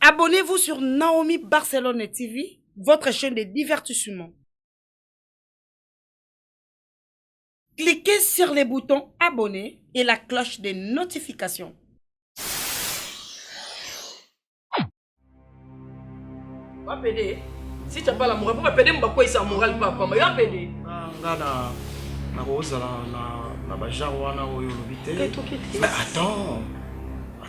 Abonnez-vous sur Naomi Barcelone TV, votre chaîne de divertissement. Cliquez sur les boutons abonner et la cloche des notifications. Wapede, si tu n'as pas la morale, pourquoi pede mba kwesa morale papa, mais wapede. Ah, ngana na kozala na na bajar wana oyo olobi te. Mais attends.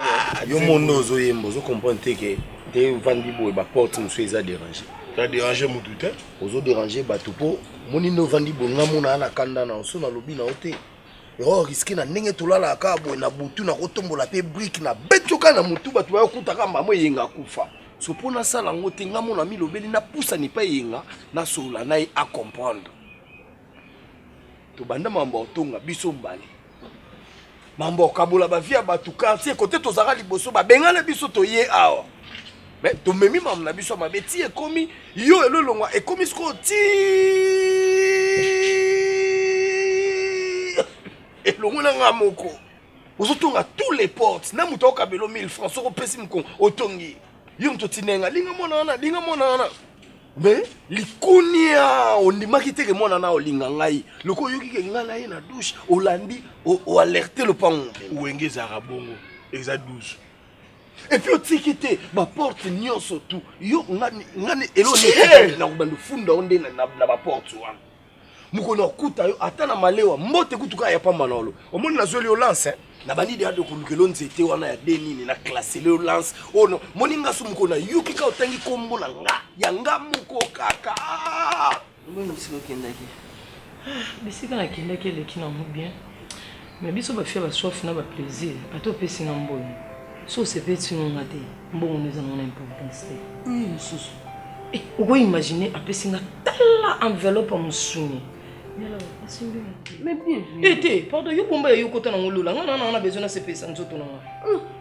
Ah, yo mondo ozoyemba ozo comprendre te ke te ovandi boye baporte mosusu eza dérange na dérange motu te ozo dérange bato mpo moni nde ovandi boye nga mona na kanda na oso nalobi na yo te ero riske na ndenge tolalaka kaka boye na butu nakotombola mpe brike na beti oka na motu bato bayokutaka mbamo eyenga akufa so mpo nasala yango te nga mona milobeli napusani mpe eyenga nasolola na ye acomprendre tobanda mambo ya kotonga biso mbale mambo ya kokabola bavi ya bato quartier kote tozalaka liboso babengana biso toye awa me tomemi mambo na biso ya mabe ti ekomi yo elolongwa ekomi sikoyo ti elongo na ngai moko ozotonga tous les portes na moto akokabelo 1000 francs soki opesi mokongo otongi yo moto otinenga linga mwana wana linga mwana wana Mais likunia ondimaki te ke mwana na olinga ngai loko oyoki ke ngai na ye na douche olandi oalerte lopango wenge ezalaka bongo eza 12 epuis otiki te baporte nyonso tu yo ngani elonakobanda ofunda yo nde na baporte wana mokolo na kuta yo ata na malewa mbote kutu kaka ya pamba na olo omoni nazweli yo lance eh? na bandi deado kolukelo nzete wana ya de nini na klasele yo lance oyo oh, no. moni nga so mokolo na yoki kaka otangi kombo na nga ya nga moko kaka mbongo bisika okendaki ah, bisika nakendaki eleki nango bien Mais biso ba fille ba soif na ba plaisir ata opesi nga mbongo so osepelisi no nga te mbongo no eza nango na importance te oyo mosusu eh, oko imagine apesi nga tala enveloppe ya mosuni mais bien eh, te pardon yo bomba ya yo kota nango lola nga na nanga na besoin nasepelisa nzoto na nga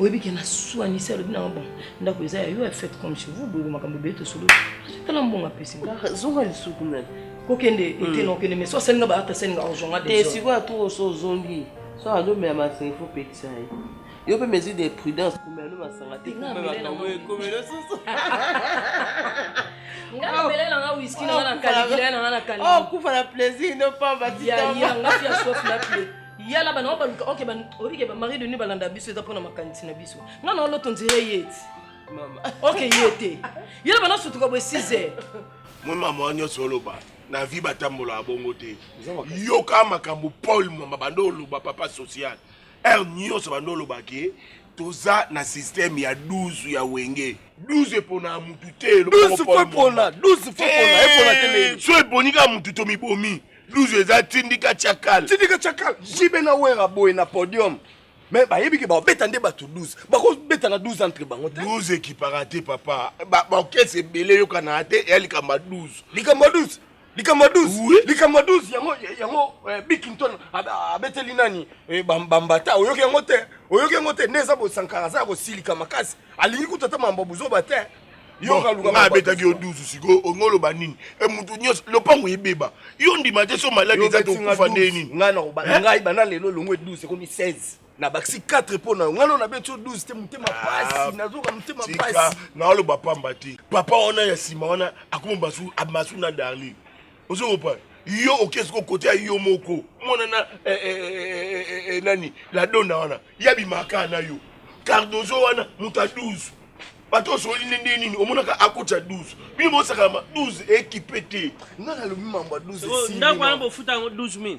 oyebi ke na swanisi alobi nanga bon ndako eza ya yo ya fete comme chez vous boyeko makambo ebele tosololi tala mbongo apesi nga ah, zonga lisuku nani kokende ete hmm. na okende mais so asalinga baata asalinga ozonga te sikoyo atour oso ozongi so azomela masanga ifo opekisa ye yo mpe mesure de prudence komela no masanga te komela susu okufa na plaisir no pamba yala bana baluka oke oyebi ke bamari de nuit balanda biso eza mpona makanisi na biso nga na oloto nzela ye ti oke ye te yala bana sutuka boye 6 heures moi mama wa nyonso oloba na vie batambolaka bongo te yoka makambo paul mama banda oloba papa social heure nyonso banda oloba ke toza na systeme ya 12 ya wenge 12 epona mutu te so eponi kaka mutu tomibomi Luzu eza tindika chakal. Tindika chakal. Jibe na wera boye na podium. Mais bayebi ke babeta nde bato 12. Bakobeta na 12 entre bango te. 12 ekipaka te papa. Ba orchestre ebele yokana te ya likamba 12. Likamba 12. Likamba 12. Oui. Likamba 12 yango yango eh, Bikington abeteli nani? Eh, bambata oyoki yango te. Oyoki yango te. Neza bosankara za kosilika makasi. Alingi kutata mambo buzoba te. nga abetaki yo dusu sikoyo ongo oloba nini e motu nyonso lopango ebeba yo ndima te so maladi eza tokufa nde nini ngai nakoba eh? ngai banda lelo elongo eduse ekomi 16 na bakisi 4 mpo na yo ngai lona beti yo 12 te motema ah, pasi nazoka motema pasi naoloba pamba te papa wana ya nsima wana akoma masu na darlin ozo comprendre yo oke siko kote ya yo moko mwana na eh, eh, eh, nani la dona wana ya bimaka na yo cardozo wana moto ya 12 bato osoli nde nde nini omonaka akotya 12 bino bosakalama 12 ekipe te nga nalobi mambo ya 12 ndako wana bofuta yango 12 000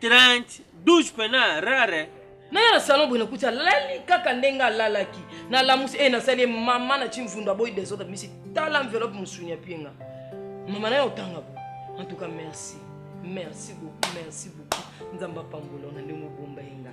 30 12 pena rare naya na salon boye nakuti alali kaka ndenge alalaki nalamusi e eh, nasali mama na ti mvundu aboyi desordre misi tala enveloppe mosuni apienga mama naye otanga bo en tout cas merci merci beaucoup merci beaucoup nzambe apambola na ndenge obomba ye nga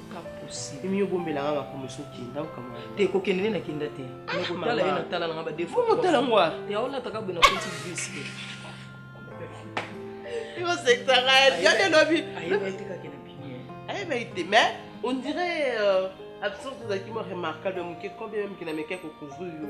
imi obombela nga makambo esi okenda okamwa te kokende nde nakenda te nakotala ye natala nanga badefotala ngwa te aolataka boye na koti visi osekisaka yade lobi ayebaki te mais on dirait euh, absence ozalaki mo remarquable moke combien meme kinamekaki kokozwi yo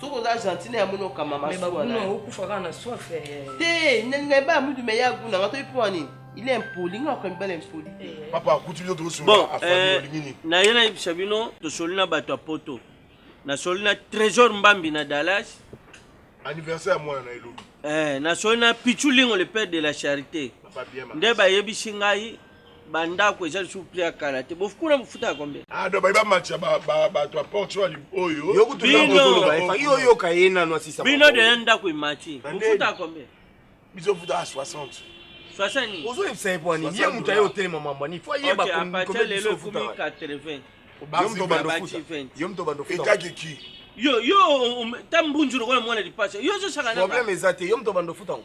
soki oza argentine ya moni okama masuaokufa kaka na soif eh. te nalinga ebaya mutu me ya guna nga toyi mpo nini il est impoli nga okomi bala impoli te eh. papa akuti bino tokosolaaolingi eh, nini naye nayebisa bino tosoli na bato ya poto nasoli na trésor mbambi na dallas anniversaire ya mwana na elobi eh, nasoli na pichulingo le père de la charité nde bayebisi ngai bandako eza lisusu prix ya kala te bofukuna mofuta ya kombe ado ah, bayi bamatisa bato ya porte oyo oyo oyoka ye nano asisa bino deya ndako emati mofuta ya kombe biso futaka 60 ozoyebisa ye pwani ye moto aye otelema mamba ni fo ayeba lelo ekomi 80 yo moto bando etakiki yo yo ta mbunzu lokola mwana lipasa yo ozosaka problème eza te yo moto bando futango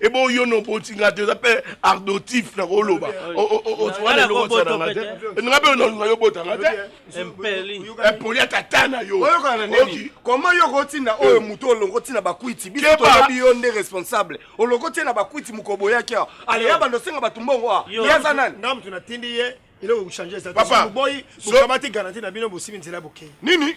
ebe oyo no oboti nga te oza mpe ardotif na koloba wana eloko osa na nga te nga mpe nalinga yo obota nga te epoli ya tata na yo koma yo okotinda oyo moto olongo otina bakwiti biso toyebi yo nde responsable olongo otie na bakwiti mokobo oyaki awa aleya bando osenga bato mbongo awa ye aza nani nga moto natindi ye eloko kochange eza te boyi bokamati garanti na bino bosimi nzela bokei nini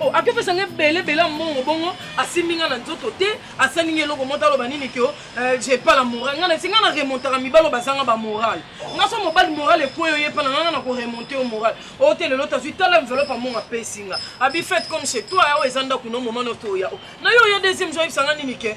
Oh, akepesa nga ebele ebele ya mbongo bongo asimbi nga na nzoto te asali nga eloko moko aloba nini kio euh, je pas la morale nga nasi nga na remontaka mibalo bazanga bamorale nga so mobali morale ekweyo ye mpana nga na koremonte yo morale oyo oh, te lelo tazwi tala enveloppe ya mbongo apesi nga abi fete comme chez toi oyo oh, eza ndako no moma notoya na yo oya deuxième jour ayebisa nga nini ke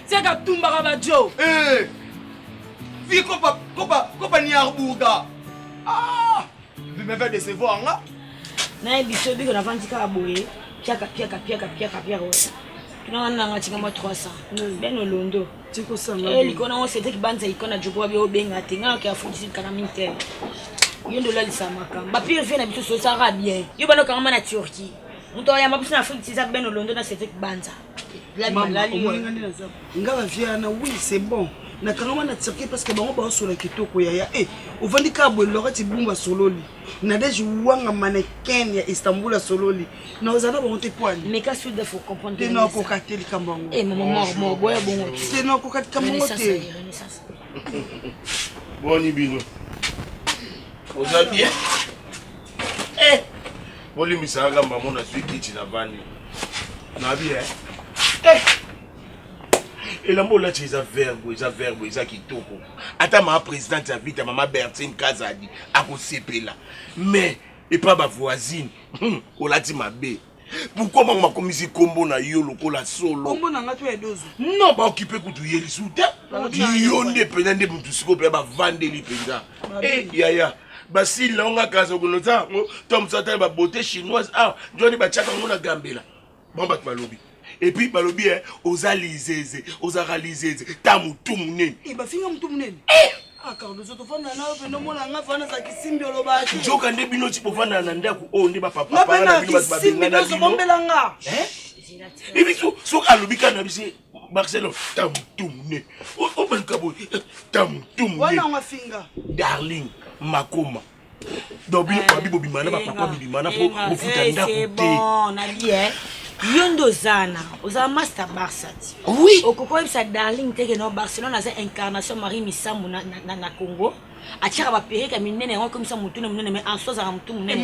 Tiaka tumbaka ba Joe. Eh. Vie kopa kopa kopa ni arbuga. Ah. Vous m'avez décevoir nga. Na ebiso biko na vandi kaka boye. Piaka piaka piaka piaka piaka. Tuna wana nga tika mwa 300. Hmm. Ben olondo. Tiko sanga. Eh likona on c'était kibanza ikona jobo bi obenga te nga ka fuji kana minte. Yo ndo la lisamaka. Ba pire vie na biso so sara bien. Yo bana kanga na Turquie. Muto ya mabusi na Afrique tiza ben olondo na c'était kibanza. nga bavie wana wi c'est bon nakangama na tirke parce que bango baosola kitoko yaya e eh, ovandi kaka boye lorati bumba sololi nadege wanga maneken ya istanbul asololi na oza na bango te poaninakoka te likambo yangonakoka eh, likambo yango te boni bino oza bien eh, Bolimbisa nga kamba mona zui kiti na vandi. Na bi eh. Eh. Elambo olati eza verbe, eza verbe, eza kitoko. Ata ma présidente ya vita mama Bertine Kazadi akosepela. Mais epa ba voisine, hmm, olati mabe. Pourquoi bango bakomisi kombo na yo lokola solo? Kombo na nga to ya dozo. Non, ba occuper kutu ye lisusu te. Yo nde penza nde mutu sikoyo pe bavandeli penza. Eh yaya. basili na onga kaza okonoza yango to mosusu atali babote chinoise awa ah, njwani batiaka yango na gambela bango bato balobi epuis balobi e oza lizeze ozalaka lizeze ta motu monene eh, bafinga motu monene eh! ah, nzoka nde bino ti bovandana na ndako oyo nde bapapapaa na bino bato babengana bino ebiso soki alobi kana bise Marcelo tamutumne obaluka boye eh, tamutumne darling makoma donc bino babi bobima na bapapa bibima na po bofuta ndako te yo nde oza na oza master barça ti oui okoki oyebisa darling teke no barcelone aza incarnation marie misambo na, na, na congo atiaka bapereka minene yango akomisa motu na monene mai anso azalaka motu monene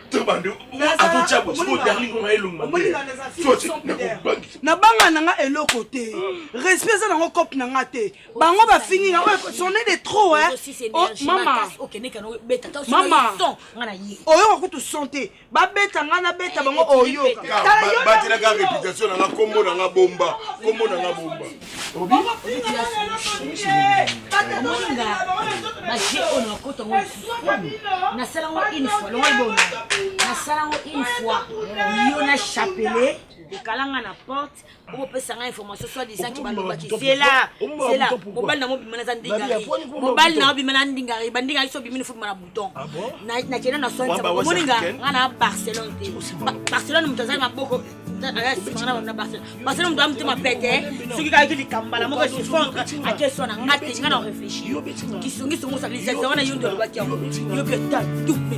nabanga na nga eloko te respect eza nango cope na nga te bango bafingi nga sonne de trop oyoka kutu son te babeta nga nabeta bango oyoka ekalanga na porte opesa ngai information soit disant kibalobaki zela zela mobali na mobima naza ndingari mobali na obima na ndingari bandingari so obimi nifobima na temps ah nakenda na soin omoni nga nga na barcelone te barcelone moto azali maboko na barcelone barcelone moto amotema pete soki kayaki likambala moko esifondre ake soin na nga te nga na réfléchir kisongisongo osakili zazia wana yo nde olobaki yango yo mpe tatupe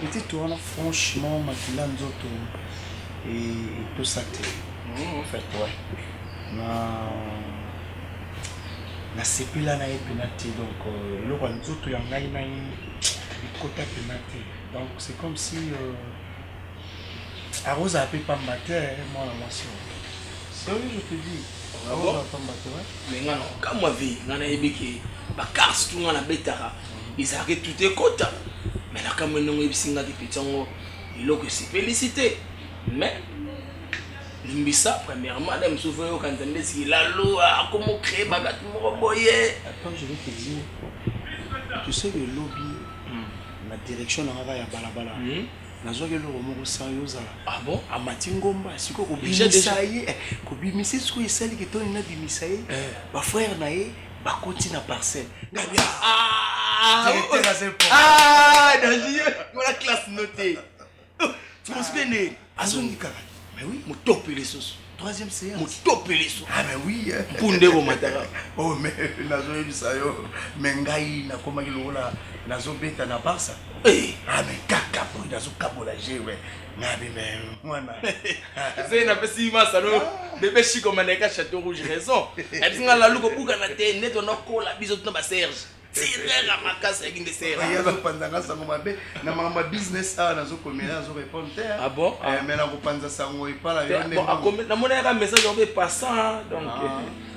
Petite wana franchement makila nzoto etosa te en fait ouais na nasepela na ye mpena te donc euh, eloko ya nzoto ya ngai na ye ekota mpena te donc c'est comme si euh, akozala mpe pamba te mwana mwasi oyo sérieux je te dis akozala pamba te mais ngai nakokamwa vie ngai nayebi ke bakarse tu ngai nabetaka Ezalaka etuta ekota me nakamwe ndenge oyebisi nga ke peti yango eloko esepelisi te me limbisa premièrement na mosusu oyoka nzambe esiki laloa akomocree babatu moko boye toseki elobi hmm. na direction na ngaka ya balabala hmm. nazwaki eloko moko sa yo ozala ah amati ngomba sikoyo kobimisa ye eh, kobimisa ye sikoyo esali kitoni nabimisa ye eh. bafrère na ye bakoti na parcelle ngabi directeur aza importantwana classe no te mosbene azongi kaka motope lisusu troisième séance motope lisusu ah mais oui mpunde komataka o oh, mais nazoyebisa yo me ngai nakomaki lokola nazobeta na barsa eh. ah mais kaka boye nazokabola jeu Nabi même mwana. Zé na pesi masa no ah. bébé Chico maneka château rouge raison. Elle dit ngala luko buka na te net on kola biso tuna ba Serge. Tirera makasi ya kinde Serge. Ya zo panza ngasa ngo mabe na mama business awa na zo komela na zo répondre te. Ah bon? Eh ah. mais na ko panza sango ipala yo ne. Bon akomela na mona ya message obe passant donc. Ah. Eh.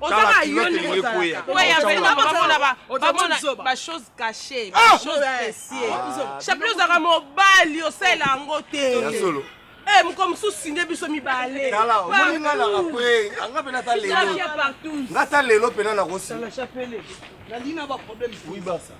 ozanga yo nde ozalaka bachose cache bachose presie chapelet ozalaka mobali osala yango te eh, moko mosusu nde biso mibale omoni nga naka pre anga mpe nata lelo nga ta lelo mpena nakosi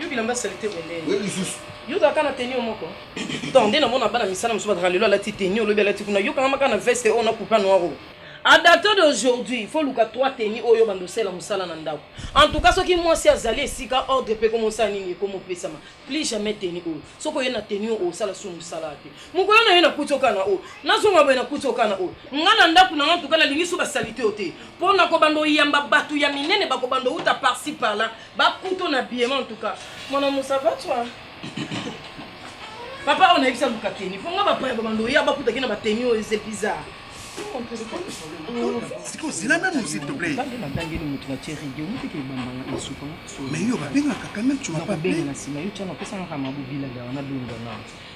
yo bilamba salite boye nde oye lisusu yo ozalaka na tenio moko donc nde namona bana misala mosusu bazalaka lelo alati tenio olobi alati kuna yo kangama kaka na veste oyo na coupa noir oyo a dato d'aujourd'hui faut luka trois teni oyo bando osala mosala na ndako en tout cas soki mwasi azali esika ordre mpe komosala nini ekomopesama plus jamais teni oyo soki oye na teni oyo osala su mosala te mokolo na ye na kuti okana oyo nazonga boye na kuti okana oyo ngai na ndako na ngai ntuka nalingi so basalite yo te mpo na kobanda oyamba bato ya minene bakobanda outa parci parla bakuto na biema ntuka mwana mosavatwa papa oyo nayebisa luka keni mpo ngai bapaya babanda oya bakutaki na bateni oyo eze bizarre sikoyo zela nanu s'il te plaît nabangeli moto na tie radio moteke ebambanga esuka mais yo babengaka quand même tu m'as pas bengana nsima yo tiana opesangaka mabobilada wana bengana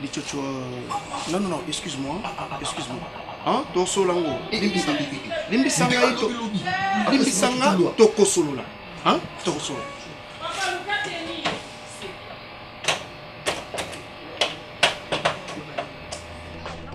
Lichocho, non, non, non, excuse-moi, excuse-moi. Hein, ton solango, limbisa, limbisa ngai to, limbisa nga to kosolola, hein, to kosolola.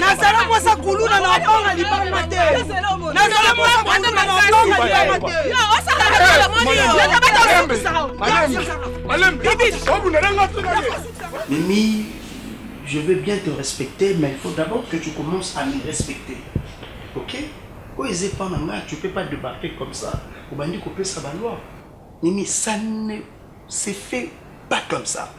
nazala mwasa kuluna na obanga libanga te nazala mwasa kuluna na obanga libanga te Mimi, je veux bien te respecter, mais il faut d'abord que tu commences à me respecter. Ok Quand ils pas maman, tu peux pas débarquer comme ça. Au bandit, couper sa loi. Mimi, ça ne s'est fait pas comme ça.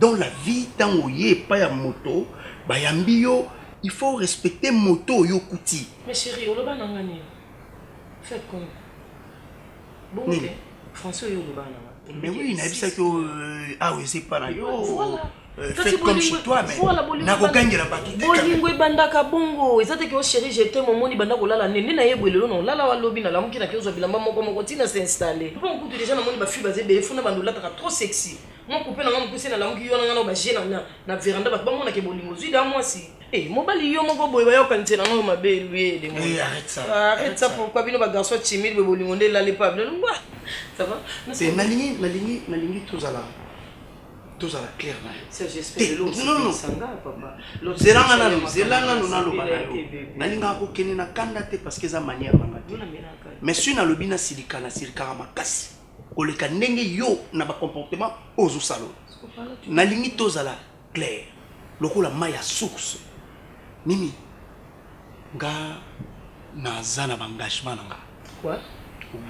Dans la vie tango oye epai ya moto bayambi yo il faut o respecter moto oyo okuti. Mais cherie oloba na nga nini? Faites comme bongo Nini? te français oyo oloba na nga. Mais oui nayebisaki yo euh, awa eza epai na yo Voilà. euh, Kasi faites comme bolingo- chez toi mais voilà, bolingo nakogangela ebanda- bato te quand même. bolingo ebandaka bongo eza te ke ocheri jete momoni banda kolala nde nde na ye boye lelo na olala wa lobi nalamuki na ke ozwa bilamba moko moko ntina se installe mpo mokutu deja namoni bafille baza ebele funa banda olataka trop sexy Mua coupe na nga mukuse na lamuki yo na nga nao ba jeux na na veranda batu ba mona ke bolingo ozui da muasi. Eh mobali yo moko boye ba yoka nzela na yo mabe luye de moi. Eh arrête ça. Ah, arrête ça pourquoi bino ba garçon timide boye bolingo nde lali pa bino lungwa. Ça va? Eh nalingi nalingi nalingi tozala tozala clair na yozela nga nanu zela nanu naloba na yo nalingaka kokende na kanda te parce que eza manière na nga te mais soki nalobi na silika na silikaka makasi koleka ndenge yo na ba comportement ozo salo nalingi tozala clair lokola mai ya source mimi nga naza na baengagement na nga quoi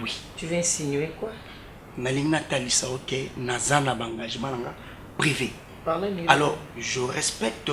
oui tu veux insinuer quoi nalingi natalisa yo ke naza na baengagement na nga privé alors je respecte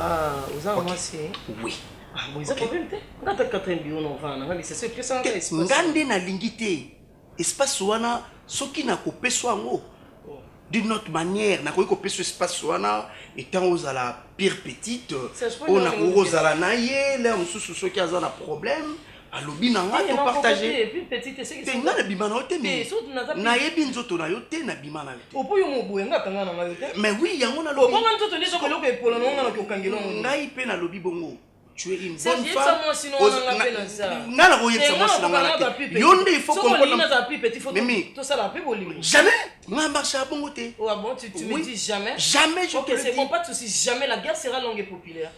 Ah, oza na mwasi eh? oui Ah, bon, eza problème te nga ata quatrième bio na ovana na nga lisese epesa nga espace. nga nde nalingi te espace wana soki nakopeso yango d'une autre manière nakoki kopeso espace wana etant ozala pire petite Serge, mpo oyo nini nakoki olingi kozala na ye lere mosusu soki aza na problème alobi na ngai to partage te ngai nabima na yo te nayebi nzoto na yo te nabima na yo temais wi yango nalobiangai mpe nalobi bongo tu es une bonne femme nga na koyebisa mwasi na nga te yo nde il faut comprendremimi jamais nga marche ya bongo te oh, ah jamais jamais je te le dis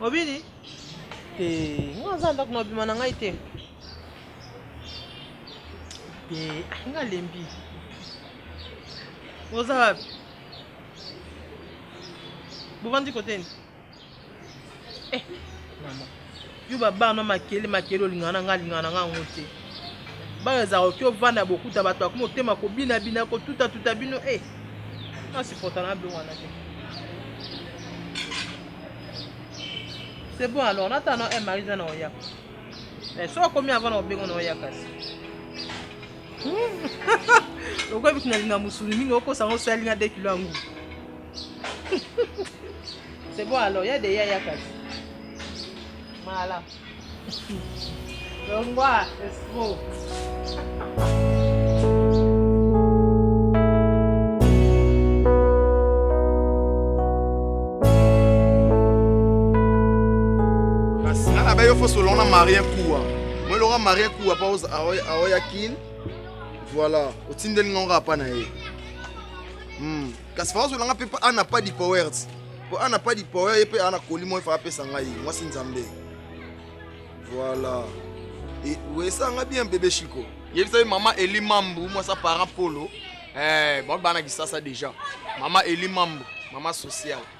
obini te nga aza ndako na bima na ngai te te ah, nga lembi oza wapi bovandi koteni eh, mama Yo ba bana na makele makele olingana na nga alingana na nga yango te. Bana ezaka oki ovanda bokuta bato akoma otema kobina bina kotuta tuta bino eh na supporta na biloko wana te. C'est bon alors nata na eh Marisa na oya. Eh so akomi avant na obengo na oya kasi. lokola bitu nalinga mosuni mingi okosa yango osali nga de kilo yango c'est bon alors ya deya ya kasi mala longwa esco yo fo solona marien kuwa Moi loka marie kuwa pa aoya kin voilà otindeli ngonga apa na ye hmm. kasi faka ozolanga mpe ana pas di powert mpo ana pas di power ye mpe ana koli moi faka apesa ngai mwasi nzambe voilà wesanga bien bebe chiko yebisa ye mama eli mambu mwasa parent polo eh, bango bana kisasa déjà mama eli mambu mama sociale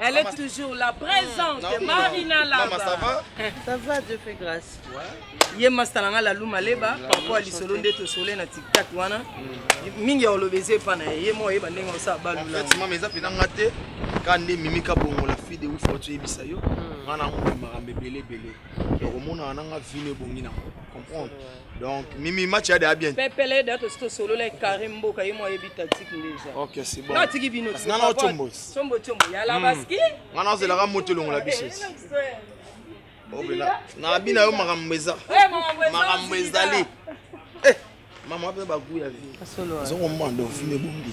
Elle est toujours là, présente. Non, Marina là. Maman, ça va Ça va, Dieu fait grâce. Ouais. Ye masta nanga la luma leba, papa ali solo nde to solo na TikTok wana. Mm. Mingi ya olobeze pa na ye mo ye bandenge osa balu la. Fatima meza pena ngate kande mimi ka bongo la fille de ouf otu yebisa yo. Ngana mm. ngomba makambe bele bele. Okomona wana nga vine bongi na comprendre. Donc, Mimi, match a déjà bien. Pepele, d'ailleurs, c'est solo, là, Karim Boka, il m'a ébi tactique déjà. Ok, c'est bon. Non, tu dis bino. Non, non, chombo. Chombo, chombo. Y'a la basket. Non, non, c'est la ramote, l'on l'a biché. obela na abi na yo makambo eza makambo ezali mama ape bagu ya vie azongomanda ofime bongi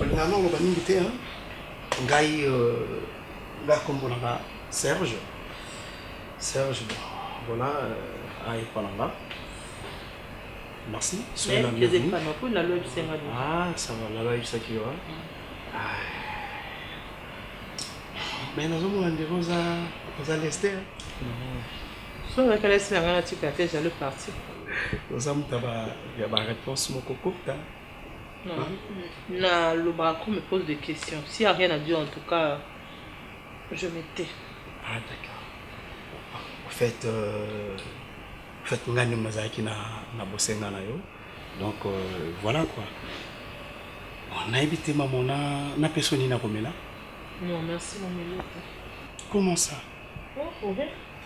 Olingaka nga oloba mingi te hein? Ngai euh, nga kombo na nga Serge. Serge voilà euh, aye pona nga. Merci. Soyez la bienvenue. Ah, ça va, la loi ça qui va. Mais nous avons un des rosa, rosa lester. So na kala sina ngana tika te jalo parti. Nous avons taba ya ba réponse moko kokta. Na lobaka ko me pose de question si a rien a dire en tout cas je me tais. Ah d'accord. En fait euh, en fait nga nde mazalaki na na bosenga na yo. Donc euh, voilà quoi. Bon, nayebi te maman na na peso nini akomela. Non, merci mon Melita. Comment ça? Oh, oh,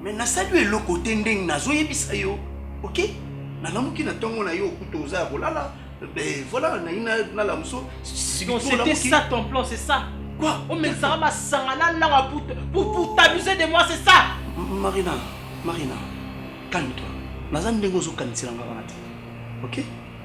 Mais nasali yo eloko te ndenge nazoyebisa yo. Ok? Nalamuki na ntongo na yo okuta oza ya kolala. Ben voilà, nayi nalamuso. Donc c'était ça ton plan, c'est ça? Quoi? Omekisaka masanga na langa pour, pour, pour t'abuser de moi, c'est ça? Marina, Marina, calme-toi. Naza ndenge ozokanisela nga wana te. Ok?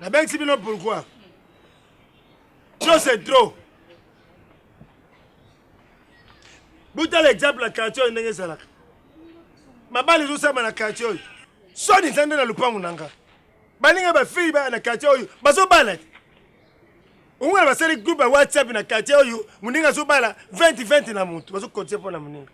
nabengisi bino pourquoi trop c'est trop botala exemple ya quartier oyo ndenge ezalaka mabala ezosama na quartier oyo soni eza nde na lopango na nga baninga bafille baya na quartier oyo bazobala te omona basali groupe ya whatsapp na quartier oyo moninga azobala 20 20 na motu bazokotie mpo na moninga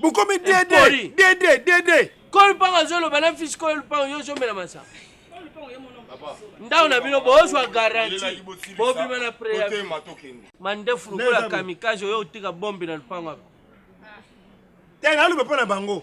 bokomi dede dede dede kolo mpango azoloba na fisi kolo mpango yo ozomela masanga ndako na bino bozwa garanti bobima na preavi mandefu lokola kamikaze oyo otika bombi na lupango ako te naloba mpo na bango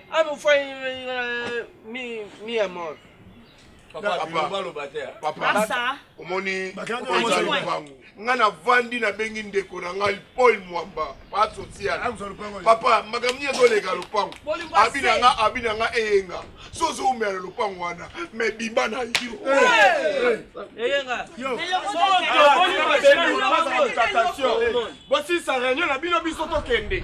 Anu fai mi mi amor. Papa, papa, omoni lupangu ngai navandi nabengi ndeko na ngai paul mwamba pasocial papa makambo nini ezoleka lupangu abi na nga abi na nga eyenga so ozoumela lupangu wana me bimba na yo bosisa reunion na bino biso tokende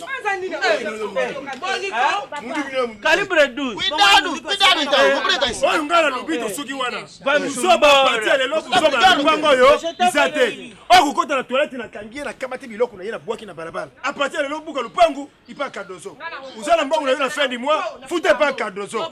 Calibre 12. Cuidado, cuidado então, vou pregar isso. Oyo ngala lobi tosuki wana. Buzoba parti ya lelo buzoba na libanga oyo eza te. Oyo kokota na toilette na kangi ye na kamati biloko na ye na bwaki na balabala. A partir ya lelo buka lupangu ipa Cardozo. Ozala mbongo na yo na fin du mois, futa epa Cardozo.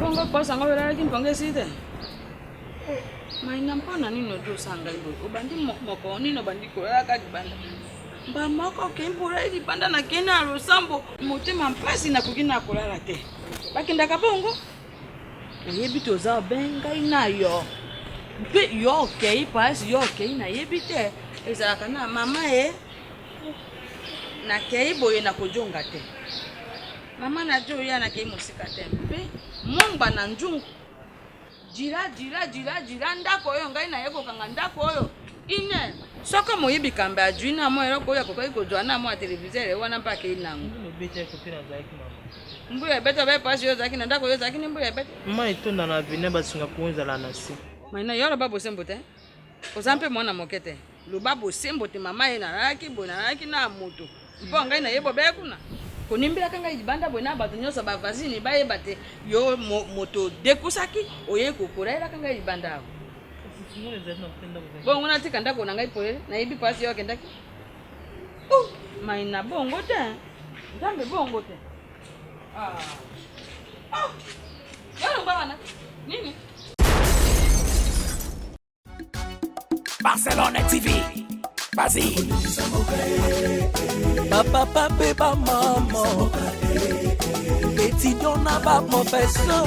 bongo posa yango olalaki mpongo esi te mainga mpo na nini odi osanga boye obandi moko nini obandi kolalaka libanda mba moko okei mpo olali libanda nakende na losambo motema mpasi nakoki na kolala te bakendaka bongo oyebi te oza ben ngai na yo mpe yo okei pasi yo okei nayebi te ezalaka na mama ye nakei boye nakojonga te mama na jo ya nakei mosika te mpe mongba na njungu jila jila jila jila ndako oyo ngai naye kokanga ndako oyo ine soko moyibi kambe ajui na mwa eloko oyo akokaki kozwa na mwa televizere wana mpe akei nango Mbu ya bete obe page yo ozalaki na ndako yo ozalaki ni mbu ya bete. Maman etonda na avenue ya basinga po ezala na se. Maina yo loba bosembo te. Oza mpe mwana moke te. Loba bosembo te mama ye nalalaki boye nalalaki na moto. Mpo ngai na ye bobeye kuna. Konimbelaka ngai libanda boye na bato nyonso ba voisine bayeba te yo moto dekusaki oye kokola yelaka ngai libanda awa. Bongo natika ndako na ngai polele nayebi pasi yo akendaki. Oh, Maina bongo te. Nzambe bongo te. Ah. Ah. Yalo bana. Nini? Barcelona TV. Bazi. Papa papa ba maman. Petit dona ba professeur.